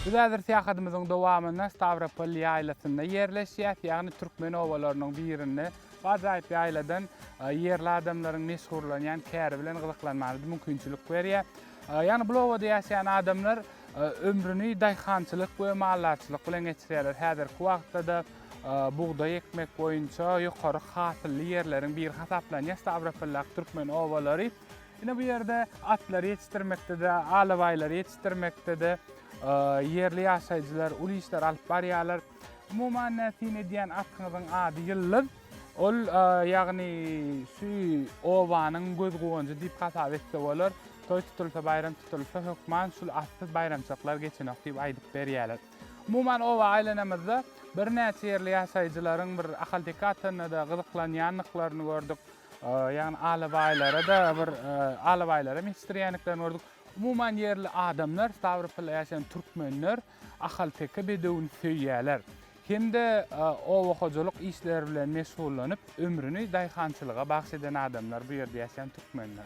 Biz häzir syýahatymyzyň dowamynda Stawropol ýaýlasynda ýerleşýäs, ýagny türkmen obalarynyň birinde. Bu ajaýyp ýaýladan ýerli adamlaryň meşgurlanýan käri bilen gyzyklanmamyz mümkinçilik berýär. Ýagny bul obada ýaşaýan adamlar ömrüni daýhançylyk we maldarçylyk bilen geçirýärler. Häzirki wagtda-da bugdaý ekmek boýunça ýokary hasylly ýerleriň biri hasaplanýan Stawropoldaky türkmen obalary. Ine bu ýerde atlary ýetişdirmekde-de, alabaýlary ýetişdirmekde-de ýerli ýaşaýjylar uly işler alyp barýarlar. Umuman näme syn edýän atyňyzyň ady Ýyldyz. Ol ýagny şu obanyň göz guwanjy diýip hasap etse bolar. Toý tutulsa, baýram tutulsa hökman şul atsyz baýramçylyklar geçenok diýip aýdyp berýärler. Umuman oba aýlanamyzda birnäçe ýerli ýaşaýjylaryň bir ahalteke atyna-da gyzyklanýandyklaryny gördük. Ýagny alabaýlara-da bir alabaýlaram ýetişdirýändiklerini gördük. Umuman ýerli adamlar, Stawropolda ýaşaýan türkmenler ahalteke bedewini söýýärler. Hem-de oba hojalyk işleri bilen meşgullanyp, ömrüni daýhançylyga bagyş eden adamlar bu ýerde ýaşaýan türkmenler.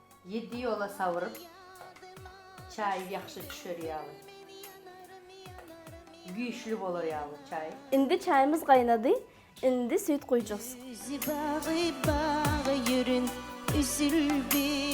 Ýedi ýola sawyryp, çaý ýagşy düşer ýaly. Güýçli bolar ýaly çaý. Indi çaýymyz gaýnady, indi süýt guýjus. Özi bagy bag ýürin üzüldi.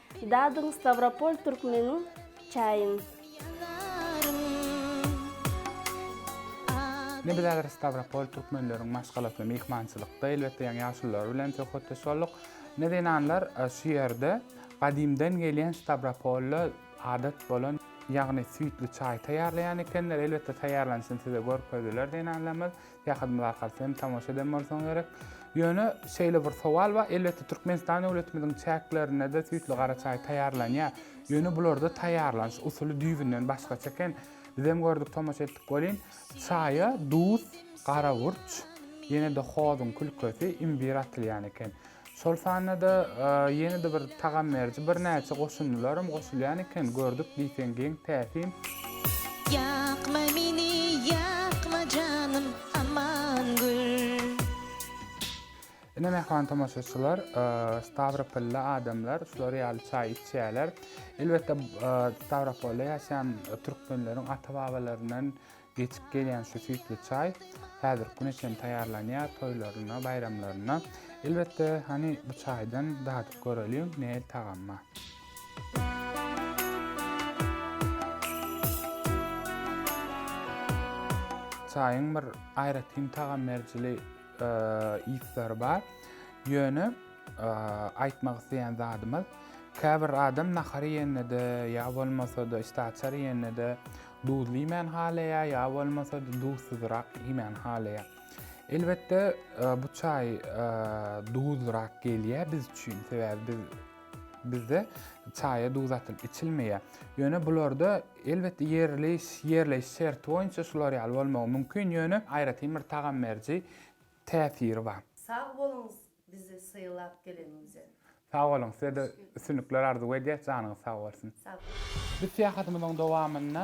Dadyň Stawropol Türkmeniň çaýyn. Nebis häzir Stawropol Türkmenleriň maşgalasynda myhmançylykda elbetde ýaňy ýaşulylar bilen söhbetdeş bolduk. Ne zenanlar şu ýerde gadymdan gelýän Stawropolda adat bolan ýagny süýtli çaý taýýarlaýan ekenler elbetde taýýarlanyşyny size görkezdiler zenanlarymyz. Saýahadymyz arkaly hem tomaşa eden bolsaň gerek. Ýöne şeýle bir sowal bar, elbetde Türkmenistan döwletimiziň çäklerinde-de süýtli gara çaý taýýarlanýar. Ýöne bularda taýýarlanyş usuly düýbünden başgaça eken. Bizem gördük, tomaşa etdik welin, çaýa duz, garawurç, ýene-de hozuň külkesi, imbir atylýan eken. Şol sanda-da ýene-de bir tagam beriji birnäçe goşundylaram goşulýan eken, gördük diýseň geň täsin. Ýakma meni, ýakma janym, aman gül. Ine mähriban tomaşaçylar, stawropolly adamlar şular ýaly çaý içýärler. Elbetde, Stawropolda ýaşaýan türkmenleriň ata-babalaryndan Geçip gelýän şu süýtli çaý häzirki güne çenli taýýarlanýar, toýlarynda, baýramlarynda. Elbetde, hany bu çaýdan dadyp göreliň, nähili tagamma. Çaýyň bir aýratyn tagam berijili yslary bar. Ýöne aýtmak isleýän zadymyz, käbir adam nahar iýende-de ýa bolmasa-da işdäaçar iýende-de Duzly iýmän halaýar, ýa bolmasa-da duzsyzrak iýmän halaýar. Elbetde, bu çaý duzlyrak gelýär biz üçin, sebäbi biz bizde çaýa duz atylyp içilmeýär. Ýöne bularda elbetde ýerli ýerleýiş şerti boýunça şular ýaly bolmagy mümkin, ýöne aýratyn bir tagam beriji täsiri bar. Sag boluň Bizi sylap geleniňize. Sag boluň, size-de üstünlikler arzuw edýäs, janyňyz sag bolsun! Sag boluň! Biz syýahatymyzyň dowamynda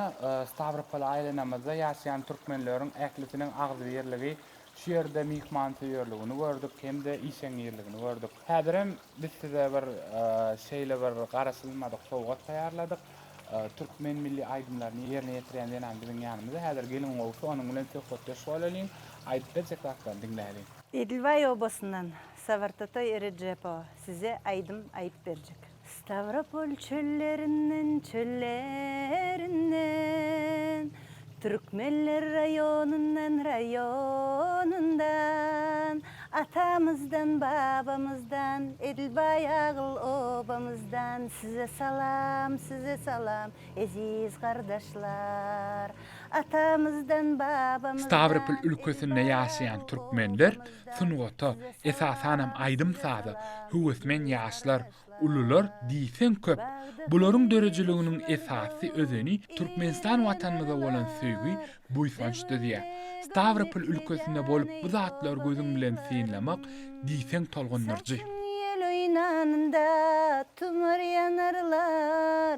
Stawropola aýlanamyzda ýaşaýan türkmenleriň ählisiniň agzybirligi, şu ýerde myhmansöýerligini gördük hem-de işeňňirligini gördük. Häzirem biz size bir şeýle bir garaşylmadyk sowgat taýýarladyk. Türkmen milli aýdymlaryny ýerine ýetirýän zenan biziň ýanymyzda häzir, geliň gowusy onuň bilen söhbetdeş bolalyň, aýdyp berjek zatlaryny diňläliň. Edilbaý obasyndan Sawartatoý Rejepo size aýdym aýyp berjek. Stawropol çöllerinden çöllerinden Türkmenler raýonyndan raýonyndan Atamyzdan babamyzdan Edilbaý agyl obamyzdan Size salam size salam eziz gardaşlar Atamyzdan, babamyzdan. Stawropol ülkesinde ýaşaýan türkmenler sungata, esasanam aýdym-saza höwesmen ýaşlar, ulular diýseň köp. Bularyň döredijiliginiň esasy özeni Türkmenistan Watanymyza bolan söýgi, buýsanç düzýär. Stawropol ülkesinde bolup bu zatlary gözüň bilen synlamak diýseň tolgundyryjy. Saçyň ýel oýnanda tumar ýanarlar,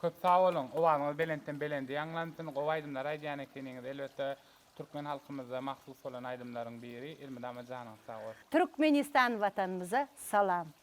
Köp sag boluň, owazyňyz belentden belende ýaňlansyn, gowy aýdymlar aýdýan ekeniňiz, elbetde türkmen halkymyza mahsus bolan aýdymlaryň biri, elmydama janyňyz sag bolsun. Türkmenistan watanymyza salam.